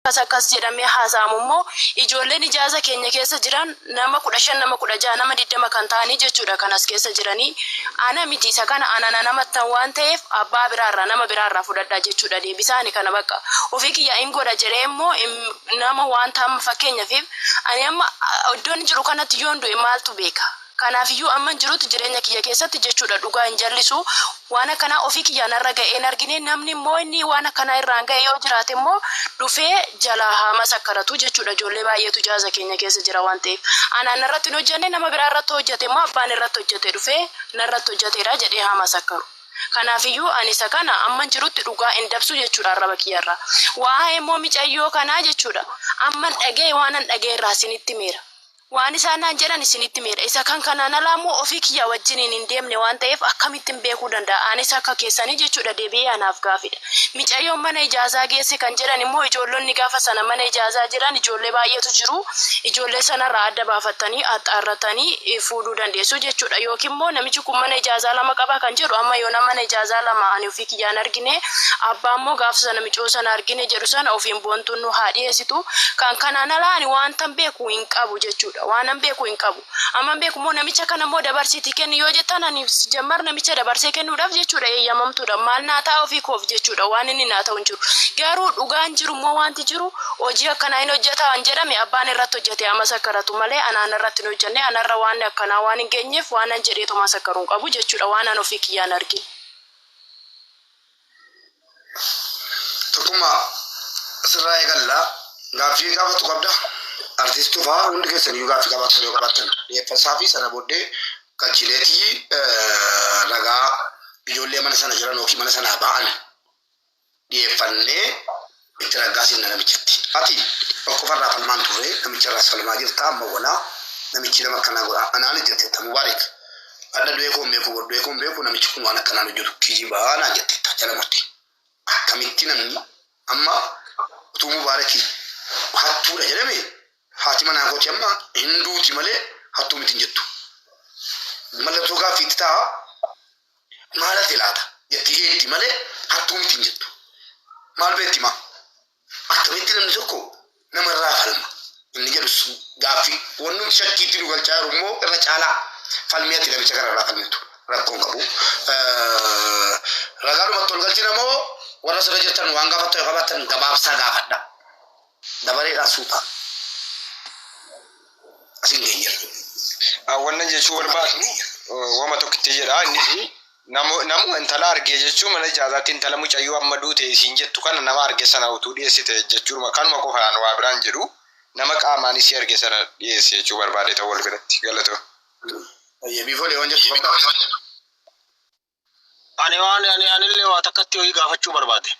Akkas akkas jedhamee haasa'amu immoo ijoolleen ijaaza keenya keessa jiran nama 15 nama 16 nama 20 kan ta'anii jechuudha kan as keessa jiranii ana miti isa kana ana nan amattan waan ta'eef abbaa biraa irraa nama biraa irraa fudhadhaa jechuudha deebisaa ani kana baqqa ofii kiyyaa in godha jedhee immoo nama waanta amma fakkeenyafiif ani amma iddoon jiru kanatti yoon du'e maaltu beeka Kanaafiyyuu amman jirutti jireenya kiyya keessatti jechuudha dhugaa hin jallisu. Waan akkanaa ofii kiyyaa narra ga'ee hin argine. Namni immoo inni waan akkanaa irraan ga'e yoo jiraate immoo dhufee jalaa haa masakkaratu jechuudha. Ijoollee baay'eetu jaaza keenya keessa jira waan ta'eef. Anaan narratti hin hojjanne nama biraa irratti hojjate immoo abbaan irratti hojjate dhufee narratti hojjateera jedhee haa masakkaru. Kanaafiyyuu ani isa kana amman jirutti dhugaa hin dabsu jechuudha arraba kiyya irraa. Waa'ee immoo micayyoo kanaa jechuudha amman dhaga'e waanan dhaga'e irraa isinitti himeera. Waan isaan naan jedhan isinitti himeera. Isa kan kanaan alaa immoo ofii kiyyaa wajjiniin hin deemne waan ta'eef akkamittin beekuu danda'a? Anis akka keessanii jechuudha deebi'ee anaaf gaafiidha. Micayyoon mana ijaazaa geesse kan jedhan immoo ijoollonni gaafa sana mana ijaazaa jiran ijoollee baay'eetu jiru. Ijoollee sanarraa adda baafattanii, axxaarratanii, fuudhuu dandeessu jechuudha. Yookiin immoo namichi kun mana ijaazaa lama qaba kan jedhu amma yoonaa mana ijaazaa lama ani ofii kiyyaa hin argine, abbaa immoo gaafa sana micoo sana argine jedhu sana ofiin boontuun nuu haa dhiyeessitu. Kan kanaan alaa ani waantan beeku. hin qabu jechuudha. Waanan beeku hin qabu. Amman beeku immoo namicha kana immoo dabarsiitii kenni yoo jettan ani jammar namicha dabarsee kennuudhaaf jechuudha eeyyamamtuudha. Maal naa ta'a ofii koof jechuudha waan inni naa ta'u hin jiru. Garuu dhugaan jiru immoo wanti jiru hojii akkanaa hin hojjeta waan jedhame abbaan irratti hojjete ama sakaratu malee anaan irratti hin hojjenne anarra waan akkanaa waan hin geenyeef waanan jedhee tomaa sakaru hin qabu jechuudha waan an ofii kiyyaan argin. Tokkummaa asirraa eegalla. Gaaffii gaafatu qabda. Artiist Tufaa hundi keessaniyyuu gaaffii qabaattan yoo qabaattan dhiyeeffasaa fi sana booddee qachiileetii ragaa ijoollee mana sana jiran yookiin mana sanaa ba'an dhiyeeffannee itti raggaasiin na namichatti. Ati tokkofarraa falmaan turre namicharraas falmaa jirta amma wonaa namichi nama akkanaa godha anaan jettetta Mubaarik adha du'ee koon beeku bor du'ee koon beeku namichi kun waan akkanaan hojjatu kijibaa naan jettetta jala murte akkamitti namni amma utuu Mubaarik hattuudha jedhame haati manaa kooti amma hin duuti malee hattuu miti hin jettu mallattoo gaaffii itti ta'a Maal hate laata? jetti Eeddi malee hattuu miti hin jettu. Maal beekti maa? Akkamitti namni tokko namarraa falma? inni jedhus gaaffii. Wannumti shakkiitti nu galchaa jiru immoo irra caalaa falmii ati namicha kanarraa falmitu rakkoo hin qabu. Ragaadhumatti ol galchina moo warra sirra jirtan waan gaafattan yoo qabaattan gabaabsaa gaafadha. Dabareedhaan suutaan asiin geenyerra. Wanna jechuu barbaadu wama tokkitti jedha innis nama intala argee jechuu mana ijaazaatti intala mucayyoo amma duute isiin jettu kana nama arge sana utuu dhiyeessite jechuudha kanuma qofaan waa biraan jedhu nama qaamaan isii arge sana dhiyeesse jechuu barbaade ta'uu wal biratti galatoo. Baay'ee biifoolee waan jettu barbaadu. Ani waan ani anillee waa takkatti ho'i gaafachuu barbaade.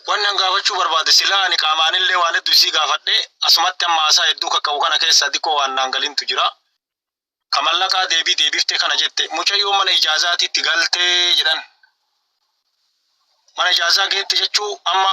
Wanni an gaafachuu barbaade silaa ani qaamaanillee waan hedduu isii gaafadhe asumatti amma haasaa hedduu kakka'u kana keessa diqqoo waan naan galintu jira. Ka mallaqaa deebii deebiftee kana jette mucayyoon mana ijaazaatitti galtee jedhan. Mana ijaazaa geette jechuu amma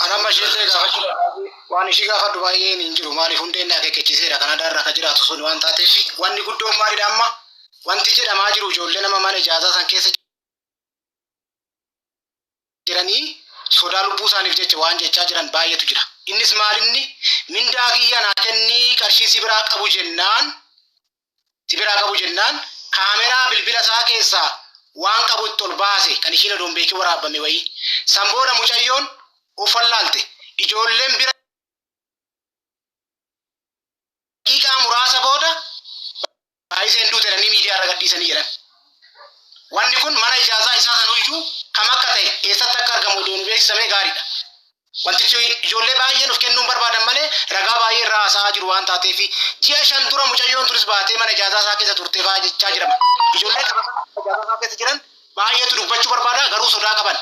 Kan amma ishiillee gaafachuu barbaadu waan ishii gaafadhu baay'een hin jiru maaliif hundeen akeekkachiiseera Kanadaa irra akka jiraatu sun waan taateef wanni guddoon maalidha amma wanti jedhamaa jiru ijoollee nama mana ijaazaa san keessa jiranii sodaa lubbuu isaaniif jecha waan jechaa jiran baay'eetu jira. Innis maalinni mindaa kiyya naa kennii qarshii si biraa qabu jennaan si biraa qabu jennaan kaameraa bilbila isaa keessaa waan qabu itti ol baase kan ishiin odoo hin beekin waraabbame wayii. San booda mucayyoon of wallaalte. Ijoolleen bira daqiiqaa muraasa booda Baayiseen duute jedhanii miidiyaa irra gadhiisanii jedhan. Wanni kun mana ijaazaa isaa sanuyyuu kam akka ta'e eessatti akka argamu odoo nu beeksisame gaariidha. Wantichi ijoollee baay'ee nuuf kennuun barbaadan malee ragaa baay'ee irraa haasa'aa jiru waan taateef ji'a shan dura mucayyoon tunis baatee mana ijaazaa isaa keessa turte fa'aa jechaa jedhama. Ijoollee qabatamaa mana ijaazaa isaa keessa jiran baay'eetu dubbachuu barbaada garuu sodaa qaban.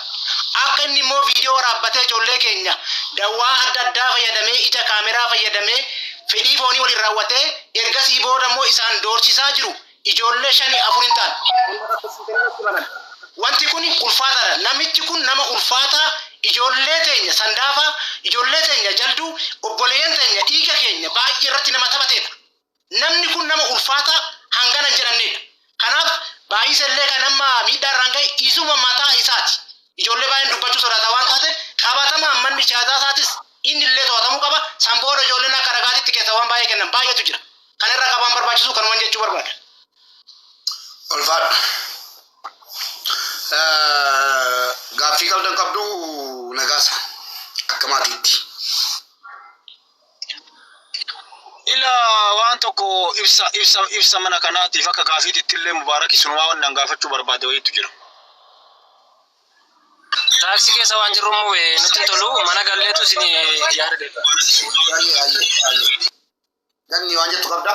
Akka inni immoo viidiyoo waraabbatee ijoollee keenya dawwaa adda addaa fayyadamee ija kaameraa fayyadamee fedhii foonii waliin raawwatee ergasii booda immoo isaan doorsisaa jiru Ijoollee shanii afur hin taane kan bakka tokko irratti banan. Wanti kun ulfaataadha. Namichi kun nama ulfaataa ijoollee teenya sandaafaa, ijoollee teenya jalduu, obboleeyyan teenya dhiiga keenya baay'ee irratti nama taphateedha. Namni kun nama ulfaataa hangana hin jedhamneedha. Kanaaf Baay'isa illee kan amma miidhaa irraan ga'e isuma mataa isaati. Ijoollee baay'een dubbachuu sodaata waan taateef qabatamaan manni siyaasaa isaatis inni illee to'atamuu qaba. San booda ijoolleen akka ragaatitti keessaa waan baay'ee kennan baay'eetu jira. Kana irra qabaan barbaachisu kanuman jechuu barbaada. Ulfaadha. Gaaffii qabdan qabdu nagaasa akka maatiitti. Ila waan tokko ibsa ibsa ibsa mana kanaatiif akka gaafiititti illee mubaarak isumaa waan nan gaafachuu barbaade wayiitu jira. Taaksii keessa waan jirru immoo eh, nutti hin tolu mana galleetu isin yaada deebi'a. Ayyee ayyee ayyee. Ganni waan jettu qabda.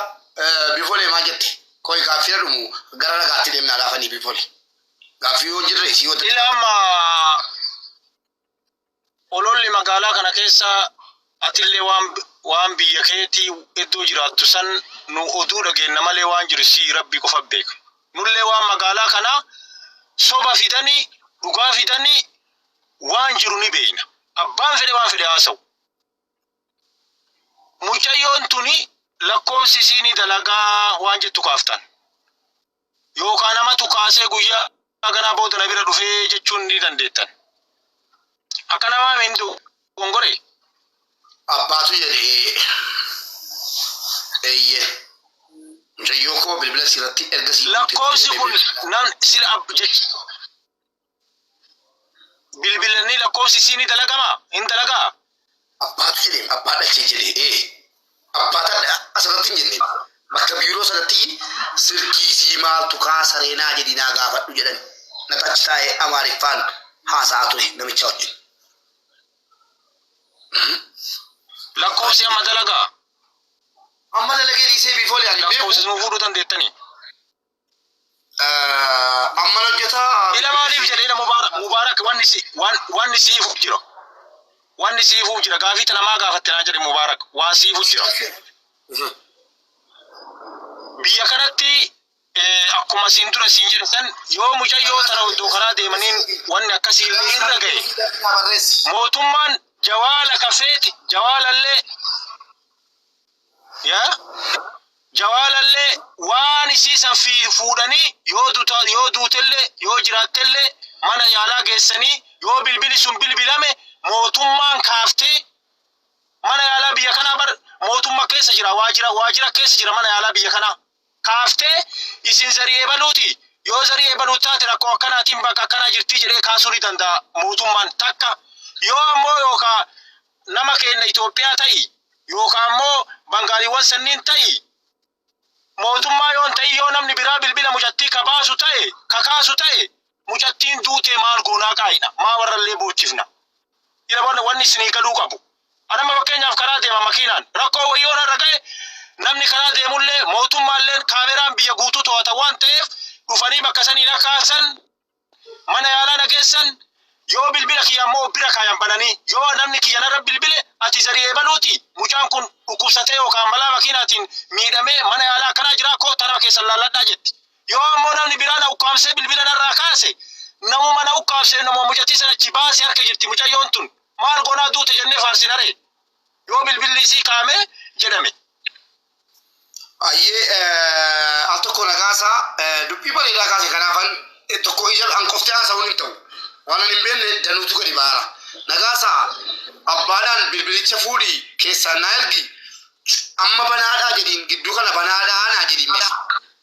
Bifolee maa jette? Koi gaaffii dhumu gara ragaatti deemnaa laafanii bifole. Gaaffii yoo jirre isii yoo Ila amma ololli magaalaa kana keessa atillee waan waan biyya keetii iddoo jiraattu san nu oduu dhageenna malee waan jiru si rabbi qofa beeka. Nullee waan magaalaa kana soba fidanii dhugaa fidanii waan jiru ni beekna. Abbaan fedhe waan fedhe haasa'u. Mucayyoon tuni lakkoofsi isii ni dalagaa waan jettu kaaftan. Yookaan namatu kaasee guyyaa ganaa booda na bira dhufee jechuun ni dandeettan. Akka namaa mindu gongore. Abbaatu jedhe ee. Eeyyee. Mucayyoo koo bilbila siirratti erga sii guutetti Lakkoofsi jedhe kun bilbila. nan sila ab jech bilbilannii lakkoofsi isii ni dalagama hin dalagaa Abbaatu jedheen abbaa dhalchee jedhee ee abbaa tadha asirratti hin jenne bakka biiroo sanatti silkii isii maaltu kaasaree naa jedhi naa gaafadhu jedhan natu achi taa'ee amaariffaan haasa'aa ture namicha wajjin. lakkoofsi amma dalagaa Amma dalagee dhiisee biifoolee ani beeku lakkoofsis nu fuudhuu dandeettanii Eh, Amman hojjetaa. Ila maaliif jedhe ila mubaarak mubaarak wanni si wan- wanni siifu jira wanni siifu jira gaafii tana maa gaafatte naan jedhe mubaarak waan siifu jira Mhm. biyya kanatti eh, akkuma siin dura siin jedhe san yoo mucayyoo tana oddoo karaa deemaniin wanni akkasii illee irra ga'e mootummaan jawaala kafeeti jawaalallee yaa jawaalallee waan isii san fi- fuudhanii yoo duta yoo duutellee yoo jiraattellee mana yaalaa geessanii yoo bilbili sun bilbilame mootummaan kaaftee mana yaalaa biyya kanaa bar mootumma keessa jira waajira waajira keessa jira mana yaalaa biyya kanaa kaaftee isin zarii ebaluuti yoo zarii ebaluu taate rakkoo akkanaatiin bakka akkanaa jirtii jedhee kaasuu ni danda'a mootummaan takka yoo ammoo yookaa nama keenna Itoophiyaa ta'i yookaa ammoo bangaaliiwwan sanniin ta'i mootummaa yoon ta'i yoo namni biraa bilbila mucattii ka baasu ta'e ka kaasu ta'e mucattiin duutee maal goonaa kaayina maa warrallee boochifna ila barna wanni isinii galuu qabu anamma fakkeenyaaf karaa deema makiinaan rakkoo wayii ona irra ga'e namni karaa deemullee mootummaalleen kaameraan biyya guutuu to'ata waan ta'eef dhufanii bakka saniin akka kaasan mana yaalaa na geessan yoo bilbila kiyya ammoo bira kaayan bananii yoo namni kiyya narra bilbile ati zariyee baluuti mucaan kun dhukkubsatee yookaan balaa makiinaatiin miidhamee mana yaalaa akkanaa jiraa koo tanama keessan laalladhaa jetti Yoo ammoo namni biraa na ukkaamsee bilbila narraa kaase, namuma na ukkaamseef namuma mucattii sana achii baasi harka jirti mucayyoon tun. Maal goonaa duute jennee faarsinaree? Yoo bilbilli isii kaa'ame jedhame. Ayyee eh, al tokko na kaasa eh, dubbii bareedaa kaase kanaafan eh, tokko ija an qoftee haasa'uun hin ta'u waan an hin beekne danuutu gadi baara na kaasa abbaadhaan bilbilicha fuudhi keessaan na ergi amma banaadhaa jedhiin gidduu kana banaadhaa naa jedhiin mee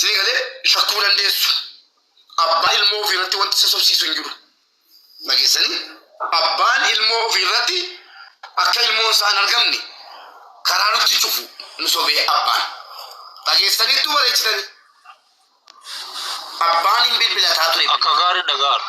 Sii galee shakkuu dandeessu. Abbaa ilmoo ofii irratti wanti isa sobsiisu hin jiru. Dhageessanii abbaan ilmoo ofii irratti akka ilmoon isaa hin argamne karaa nutti cufu nu sobee abbaan. Dhageessaniittuu bareechitanii. Abbaan hin bilbilataa ture. Akka gaarii dhaga'aara.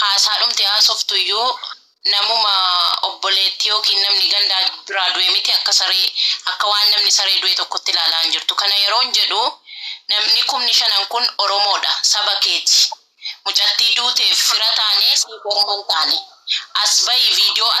Haasaadhumti haasoftu iyyuu namuma obboleetti ykn namni ganda biraa du'e miti akka saree akka waan namni saree du'e tokkotti ilaalaa hin jirtu. Kana yeroon jedhu namni kumni shanan kun Oromoodha, saba keeti. Mucattii duuteef fira taanee siif orma hin taane. As bahi video as.